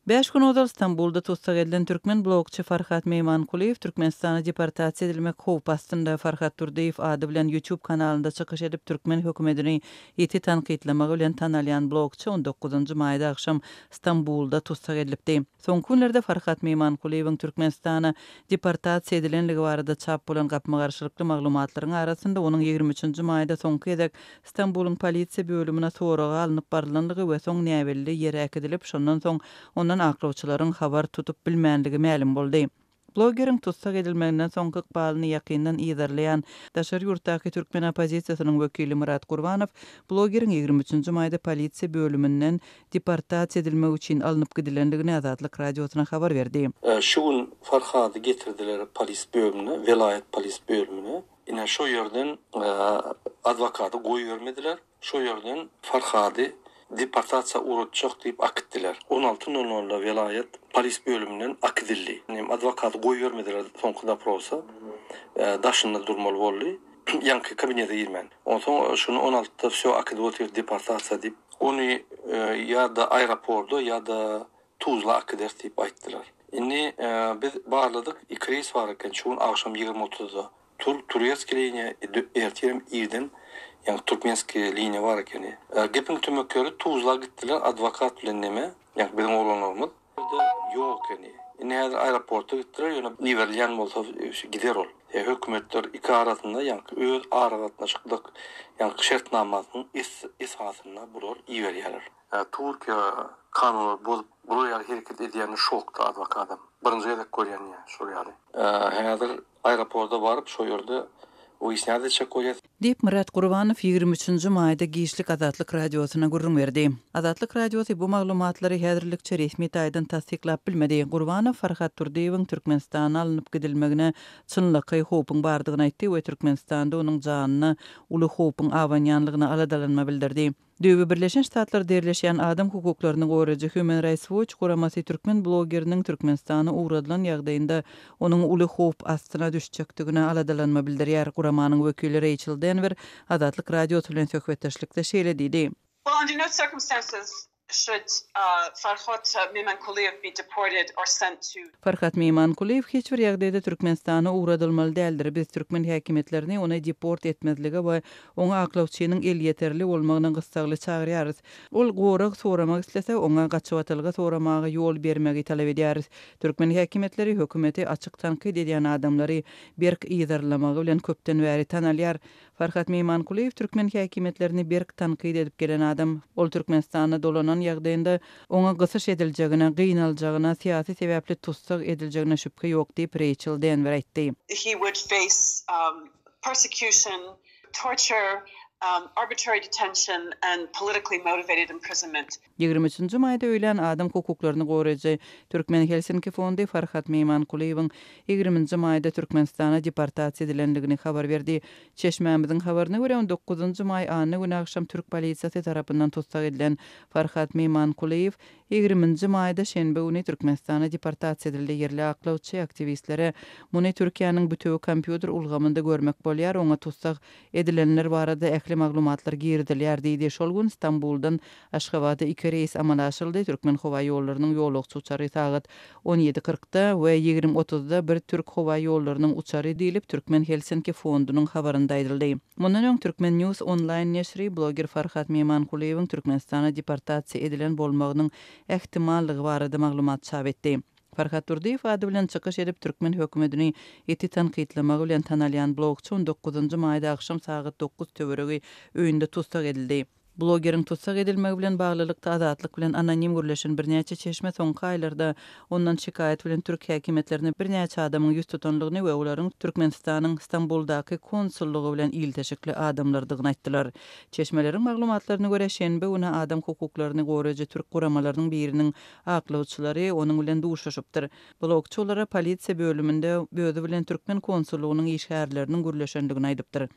Bäş gün ozal Stambulda tussag edilen türkmen blogçy Farhat Meýmankulyýew Türkmenistana deportasiýa edilmek howpy astynda. Farhat Durdyýew ady bilen YouTube kanalynda çykyş edip, türkmen hökümedini ýiti tankytlamagy bilen tanalýan blogçy on dokuzynjy maýda agşam Stambulda tussag edilipdi. Soňky günlerde Farhat Meýmankulyýewiň Türkmenistana deportasiýa edilenligi barada çap bolan gapma-garşylykly maglumatlaryň arasynda onuň ýigrimi üçünji maýda soňky gezek Stambulyň polisiýa bölümine soraga alnyp barylandygy we soň näbelli ýere äkidilip, şondan soň ondan aklawçylaryň habar tutup bilmändigi mälim boldy. Blogeriň tussag edilmeginden soňky ykbalyny ýakyndan yzarlaýan daşary ýurtdaky türkmen oppozisiýasynyň wekili Myrat Gurbanow blogeriň ýigrimi üçünji maýda polisiýa bölüminden deportasiýa edilmek üçin alnyp gidilendigini Azatlyk Radiosyna habar berdi. Şu gün Farhady getirdiler polis bölümine, welaýat polis bölümine. Ine, şo ýerden adwokaty goýbermediler, şo ýerden Farhady deportasiýa uratjak diýip akitdiler. On alty nol nolda welaýat polis bölüminden akidildi. Adwokaty goýbermediler soňky doprosa, daşynda durmaly boldy, ýaňky kabinete girmän. Onsoň şuny on altyda wsýo akidip otyr deportasiýa diýip. Ony ýa-da aeroporda, ýa-da Tuzla akyders diýip aýtdylar. Indi biz barladyk, iki reýs bar eken, şu gün agşam ýigrimi otuzda tur, Turetskiý liniýa, ertirem irden, ýagny Türkmenskiý liniýa bar ekeni. Gepiň tümek ýeri, Tuzla gitdiler, adwokat bilen neme, ýagny biziň oglanlarymyz. Bizde ýok ekeni. Indi häzir aeroporta gitdiler, ýöne iberilýän bolsa gider ol. Hökümetler iki arasynda, ýagny öz aragatnaşyklyk, ýagny şertnamasynyň esasynda bular iberýärler. Türkiýe kanunlary bozup bular ýaly hereket edýänine şokda azbaky adam. Birinji gezek görýän ýa şol ýaly. Häzir aeroporda baryp şo ýerde wyýasnýat etjek bolýas. Diýip, Myrat Gurbanow ýigrimi üçünji maýda giçlik Azatlyk Radiosyna gürrüň berdi. Azatlyk Radiosy bu maglumatlary häzirlikçe resmi taýdan tassyklap bilmedi. Gurbanow Farhad Durdyýewiň Türkmenistana alnyp gidilmegine çynlakaý howpuň bardygyny aýtdy we Türkmenistanda onuň janyna uly howpuň abanýanlygyna aladalanma bildirdi. Döwü Birleşen Ştatlarda ýerleşýän adam hukuklaryny goraýjy Human Rights Watch guramasy türkmen blogeriniň Türkmenistana ugradylan ýagdaýynda onuň uly howp astyna düşjekdigine aladalanma bildirýär. Guramanyň wekili Reýçel Denwer Azatlyk Radiosy bilen söhbetdeşlikde şeýle diýdi. Well, under no circumstances should Farhad Memankuliýew be deported or sent to. Farhad Memankuliýew hiç bir ýagdaýda Türkmenistana ugradylmaly däldir. Biz türkmen häkimiýetlerini ony deport etmezlige we Oňa aklawçynyň elýeterli bolmagyna gyssagly çagyrýarys. Ol gorag soramak islese, oňa gaçybatylgy soramaga ýol bermegi talap edýäris. Türkmen häkimiýetleri hökümeti açyk tankyt edýän adamlary berk yzarlamagy bilen köpden bäri tanalýar. Farhat Meýmankulyýew türkmen häkimiýetlerini berk tankyt edip gelen adam. Ol Türkmenistana dolanan ýagdaýynda oňa gysyş ediljegine, gynaljagyna, syýasy sebäpli tussag ediljegine şübhe ýok diýip, Reýçel Denwer aýtdy. persecution, torture, arbitrary detention and politically motivated imprisonment. Ýigrimi üçünji maýda öýlän adam hukuklaryny goraýjy Türkmen Helsinki fondy Farhat Meýmankulyýewiň ýigriminji maýda Türkmenistana deportasiýa edilendigini habar berdi. Çeşmämiziň habaryna görä, on dokuzynjy maý anna güni agşam türk polisiýasy tarapyndan tussag edilen Farhat Meýmankulyýew Ýigriminji maýda şenbe güni Türkmenistana deportasiýa edildi. Ýerli aklawçy, aktiwistlere muny Türkiýäniň bütewi kompýuter ulgamynda görmek bolýar, oňa tussag edilenler barada ähli maglumatlar girizilýär diýdi. Şol gün Stambuldan Aşgabada iki reýs amala aşyryldy. Türkmenhowaýollarynyň ýolagçy uçary sagat On ýedi kyrkda we ýigrimi otuzda bir türk howa ýollarynyň uçary diýlip, Türkmen Helsinki fondunyň habarynda aýdyldy. Mundan öň Türkmen News onlaýn neşiri bloger Farhat Memankulyýewiň Türkmenistana deportasiýa edilen bolmagynyň ähtimallygy barada maglumat çap etdi. Farhat Durdyýew ady bilen çykyş edip, türkmen hökümedini ýiti tankytlamagy bilen tanalýan blogçy on dokuzynjy maýda agşam sagat dokuz töweregi öýünde tussag edildi. Blogeriň tussag edilmegi bilen baglylykda Azatlyk bilen anonim gürleşen birnäçe çeşme soňky aýlarda ondan şikaýat bilen türk häkimiýetlerine birnäçe adamyň ýüz tutandygyny we olaryň Türkmenistanyň Stambuldaky konsullygy bilen ilteşikli adamlardygyny aýtdylar. Çeşmeleriň maglumatlaryna görä, şenbe güni adam hukuklaryny goraýjy türk guramalarynyň biriniň aklawçylary onuň bilen duşuşypdyr. Blogçy olara polisiýa bölüminde özi bilen türkmen konsullygynyň işgärleriniň gürleşendigini aýdypdyr.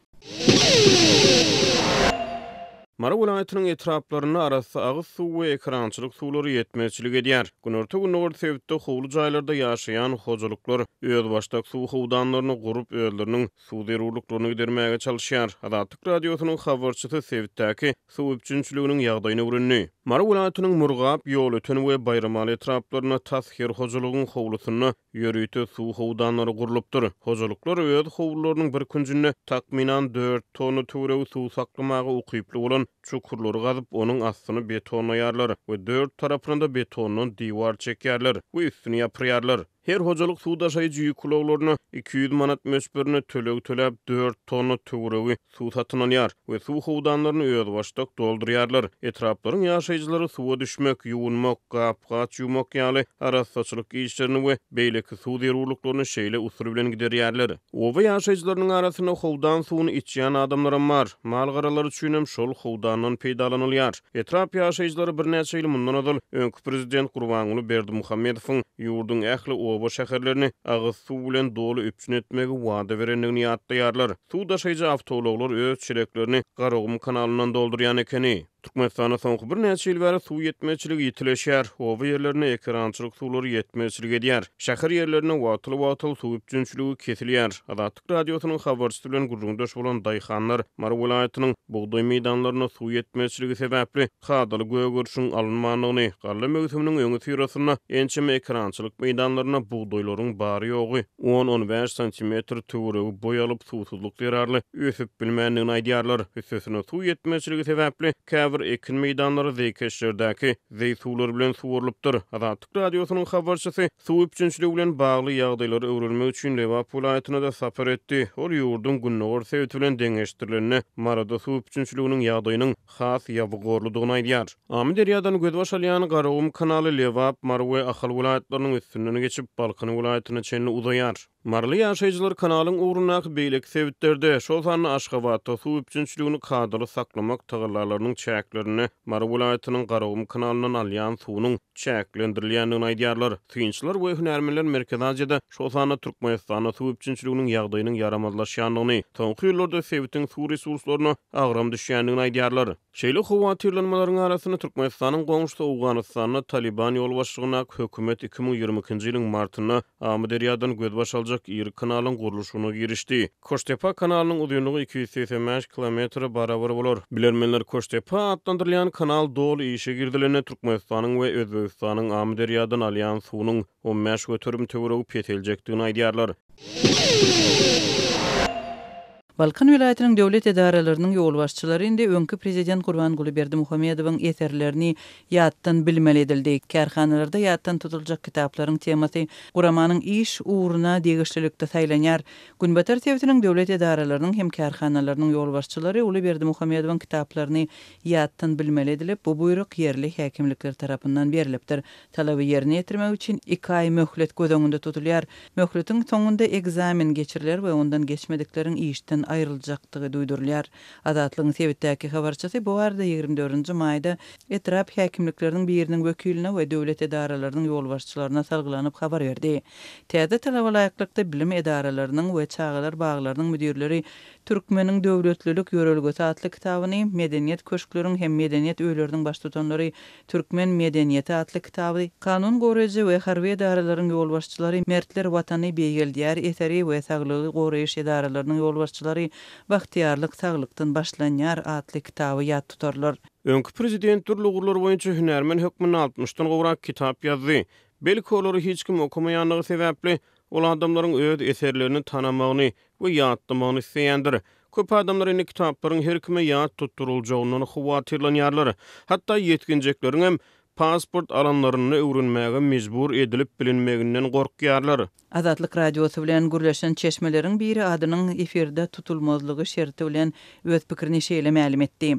Mary welaýatynyň etraplarynda arassa agyz suw we ekerançylyk suwlary ýetmezçilik edýär. Günorta-gündogar sebitde howly jaýlarda ýaşaýan hojalyklar özbaşdak suw howdanlaryny gurup, özleriniň suw zerurlyklaryny gidermäge çalyşýar. Azatlyk Radiosynyň habarçysy sebitdäki suw üpjünçiliginiň ýagdaýyny öwrendi. Mary welaýatynyň Murgap, Ýolöten we Baýramaly etraplarynda tas her hojalygyň howlusynda Ýörite suw howdanlary gurlupdyr. Hojalyklar öz howlularynyň bir künjünde takmynan dört tonna töweregi suw saklamaga ukyply bolan çukurlary gazyp, onuň astyny betonlaýarlar we dört tarapyna-da betondan diwar çekýärler we üstüni ýapyrýarlar. Her hojalyk suw daşaýjy ýük ulaglaryna iki ýüz manat möçberinde töleg töläp, dört tonna töweregi suw satyn alýar we suw howdanlaryny özbaşdak doldurýarlar. Etraplaryň ýaşaýjylary suwa düşmek, ýuwunmak, gap-gaç ýuwmak ýaly arassaçylyk işlerini we beýleki suw zerurlyklaryny şeýle usul bilen giderýärler. Oba ýaşaýjylarynyň arasynda howdan suwuny içýän adamlaram bar. Mal-garalar üçinem şol howdandan peýdalanylýar. Etrap ýaşaýjylary birnäçe ýyl mundan ozal öňki prezident Gurbanguly Berdimuhamedowyň ýurduň ähli oba-şäherlerini agyz suw bilen doly üpjün etmegi wada berendigini ýatlaýarlar. Suw daşaýjy awtoulaglar öz çeleklerini Garagum kanalyndan doldurýan ekeni. Türkmenistanda soňky birnäçe ýyl bäri suw ýetmezçiligi ýitileşýär. Oba ýerlerine ekerançylyk suwlary ýetmezçilik edýär. Şäher ýerlerinde wagtal-wagtal suw üpjünçiligi kesilýär. Azatlyk Radiosynyň habarçysy bilen gürrüňdeş bolan daýhanlar Mary welaýatynyň bugdaý meýdanlarynda suw ýetmezçiligi sebäpli kadaly gögerişiň alynmandygyny, galla möwsüminiň öňüsyrasynda ençeme ekerançylyk meýdanlarynda bugdaýlaryň bary-ýogy on-on bäş santimetr töweregi boý alyp, suwsuzlyk zerarly ösüp bilmändigini aýdýarlar. Üstesine, suw ýetmezçiligi sebäpli käbir ekin meýdanlary zeýkeşlerdäki zeý suwlar bilen suwarylypdyr. Azatlyk Radiosynyň habarçysy suw üpjünçiligi bilen bagly ýagdaýlary öwrenmek üçin Lebap welaýatyna-da sapar etdi. Ol ýurduň gündogar sebiti bilen deňeşdirilende Maryda suw üpjünçiliginiň ýagdaýynyň has ýabygorlydygyny aýdýar. Amyderýadan gözbaş alýan Garagum kanaly Lebap, Mary we Ahal welaýatlarynyň üstünden geçip, Balkan welaýatyna çenli uzaýar. Maryly ýaşaýjylar kanalyň ugrundaky beýleki sebitlerde, şol sanda Aşgabatda suw üpjünçiligini kadaly saklamak tagallalarynyň çäklerinde Mary welaýatynyň Garagum kanalyndan alýan suwunyň, çäklendirilýändigini aýdýarlar. Synçylar we hünärmenler Merkezi Aziýada, şol sanda Türkmenistanda suw üpjünçiliginiň ýagdaýynyň ýaramazlaşýandygyny, soňky ýyllarda sebitiň suw resurslaryna agram düşýändigini aýdýarlar. Şeýle howatyrlanmalaryň arasynda Türkmenistanyň goňşusy Owganystanda Talyban ýolbaşçylygyndaky hökümet iki müň ýigrimi ikinji ýylyň martynda Amyderýadan gözbaş aljak iri kanalyň gurluşygyna girişdi. Koştepa kanalynyň uzynlygy iki ýüz segsen bäş kilometre barabar bolar. Bilermenler Koştepa atlandyrylýan kanal doly işe girizilende Türkmenistanyň we Özbegistanyň Amyderýadan alýan suwunyň on bäş göterim töweregi peseljekdigini aýdýarlar. Balkan welaýatynyň döwlet edaralarynyň ýolbaşçylary indi öňki prezident Gurbanguly Berdimuhamedowyň eserlerini ýatdan bilmeli edildi. Kärhanalarda ýatdan tutuljak kitaplaryň temasy guramanyň iş ugruna degişlilikde saýlanýar. Günbatar sebitiniň döwlet edaralarynyň hem kärhanalarynyň ýolbaşçylary uly Berdimuhamedowyň kitaplaryny ýatdan bilmeli edilip, bu buýruk ýerli häkimlikler tarapyndan berlipdir. Talaby ýerine ýetirmek üçin iki aý möhlet göz öňünde tutulýar. Möhletiň soňunda ekzamen geçiriler we ondan geçmedikleriň işden aýryljakdygy duýdurylýar. Azatlygyň sebitdäki habarçysy bu barada ýigrimi dördünji maýda etrap häkimlikleriniň biriniň wekiline we döwlet edaralarynyň ýolbaşçylaryna salgylanyp habar berdi. Täze talaba laýyklykda bilim edaralarynyň we çagalar baglarynyň müdirleri Türkmeniň döwletlilik ýörelgesi atly kitabyny, Medeniýet köşkleriň hem medeniýet öýleriniň baştutanlary, Türkmen medeniýeti atly kitaby, Kanun goraýjy we harby edaralaryň ýolbaşçylary, Mertler Watany beýgeldýär eseri we Saglygy goraýyş edaralarynyň ýolbaşçylary, Bagtyýarlyk saglykdan başlanýar atly kitaby ýat tutarlar. Öňki prezident dürli ugurlar boýunça hünärmen hökmünde altmyşdan gowrak kitap ýazdy. Belki, olary hiç kim okamaýandygy sebäpli, Ol adamlaryň öz eserlerini tanamagyny we ýatlamagyny isleýändir. Köp adamlar indi kitaplaryň her kime ýat tutduryljagyndan howatyrlanýarlar. Hatda ýetginjekleriň hem pasport alanlarynda öwrenmäge mejbur edilip bilinmeginden gorkýarlar. Azatlyk Radiosy bilen gürleşen çeşmeleriň biri adynyň efirde tutulmazlygy şerti bilen öz pikirini şeýle mälim etdi.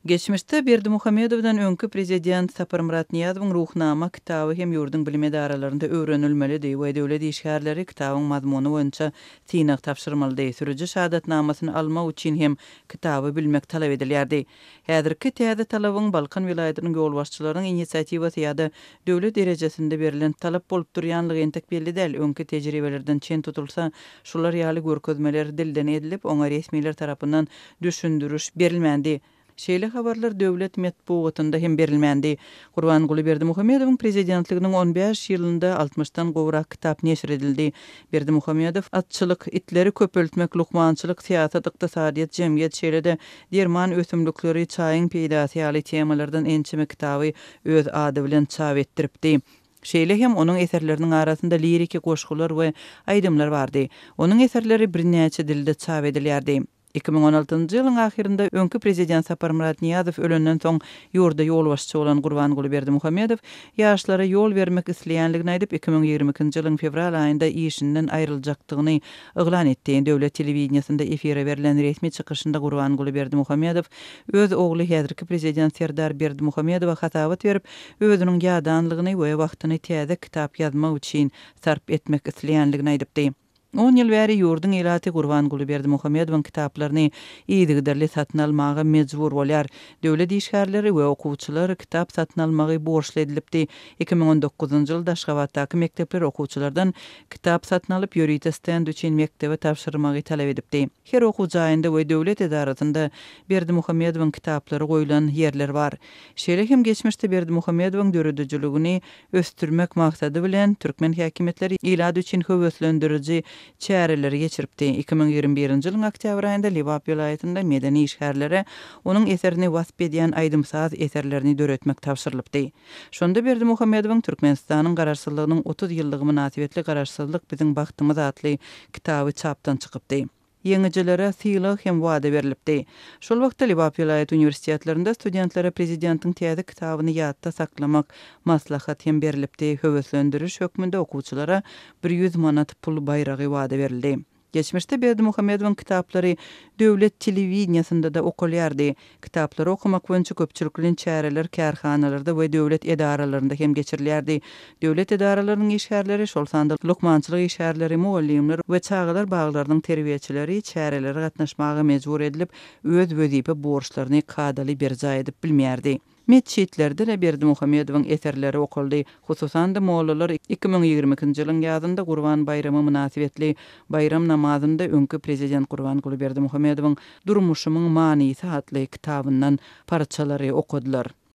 Geçmişde Berdimuhamedowdan öňki prezident Saparmyrat Nyýazowyň Ruhnama kitaby hem ýurduň bilim edaralarynda öwrenilmelidi we döwlet işgärleri kitabyň mazmuny boýunça synag tabşyrmalydy, sürüji şahadatnamasyny almak üçin hem kitaby bilmek talap edilýärdi. Häzirki täze talabyň Balkan welaýatynyň ýolbaşçylarynyň inisiatiwasy ýa-da döwlet derejesinde berlen talap bolup durýanlygy entek belli däl, öňki tejribelerden çen tutulsa, şular ýaly görkezmeler dilden edilip, oňa resmiler tarapyndan düşündiriş berilmändi. Şeýle habarlar döwlet metbugatynda hem berilmändi. Gurbanguly Berdimuhamedowyň prezidentliginiň on bäş ýylynda altmyşdan gowrak kitap neşir edildi. Berdimuhamedow atçylyk, itleri köpeltmek, lukmançylyk, syýasat, ykdysadyýet, jemgyýet, şeýle-de derman ösümlikleri, çaýyň peýdasy ýaly temalardan ençeme kitaby öz ady bilen çap etdiripdi. Şeýle hem onuň eserleriniň arasynda liriki goşgular we aýdymlar bardy. Onuň eserleri birnäçe dilde çap edilýärdi. Iki müň on altynjy ýylyň ahyrynda öňki prezident Saparmyrat Nyýazow ölenden soň ýurda ýolbaşçy bolan Gurbanguly Berdimuhamedow ýaşlara ýol bermek isleýänligini aýdyp, iki müň ýigrimi ikinji ýylyň fewral aýynda işinden aýryljakdygyny yglan etdi. Döwlet telewideniýesinde efire berlen resmi çykyşynda Gurbanguly Berdimuhamedow öz ogly häzirki prezident Serdar Berdimuhamedowa hasabat berip, özüniň ýadanlygyny we wagtyny täze kitap ýazmak üçin sarp etmek isleýänligini aýdypdy. On ýyl bäri ýurduň ilaty Gurbanguly Berdimuhamedowyň kitaplaryny yzygiderli satyn almaga mejbur bolýar. Döwlet işgärleri we okuwçylar kitap satyn almagy borçly edilipdi. Iki müň on dokuzynjy ýylda Aşgabatdaky mekdepler okuwçylardan kitap satyn alyp, ýörite stend üçin mekdebe tabşyrmagy talap edipdi. Her okuw jaýynda we döwlet edarasynda Berdimuhamedowyň kitaplary goýlan ýerler bar. Şeýle hem geçmişde Berdimuhamedowyň döredijiligini ösdürmek maksady bilen, türkmen häkimiýetleri ilat üçin höweslendiriji çäreleri geçiripdi. Iki müň ýigrimi birinji ýylyň oktýabr aýynda Lebap welaýatynda medeni işgärlere onuň eserini wasp edýän aýdym-saz eserlerini döretmek tabşyrylypdy. Şonda Berdimuhamedowyň Türkmenistanyň Garaşsyzlygynyň otuz ýyllygy mynasybetli Garaşsyzlyk biziň bagtymyz atly kitaby çapdan çykypdy. Ýeňijilere sylag hem wada berlipdi. Şol wagtda Lebap welaýat uniwersitetlerinde studentlere prezidentiň täze kitabyny ýatda saklamak maslahat hem berlipdi, höweslendiriş hökmünde okuwçylara bir ýüz manat pul baýragy wada berildi. Geçmişde Berdimuhamedowyň kitaplary döwlet telewideniýesinde-de okalýardy, Kitaplary okamak boýunça köpçülik bilen çäreler kärhanalarda we döwlet edaralarynda hem geçirilýärdi. Döwlet edaralarynyň işgärleri, şol sanda lukmançylyk işgärleri, mugallymlar we çagalar baglarynyň terbiýeçileri çärelere gatnaşmaga mejbur edilip, öz wezipe borçlaryny kadaly berjaý edip bilmeýärdi. Metjitlerde-de Berdimuhamedowyň eserleri okaldy. Hususan-da, mollalar iki müň ýigrimi ikinji ýylyň ýazynda Gurban baýramy mynasybetli baýram namazynda öňki prezident Gurbanguly Berdimuhamedowyň Durmuşymyň manysy atly kitabyndan parçalary okadylar.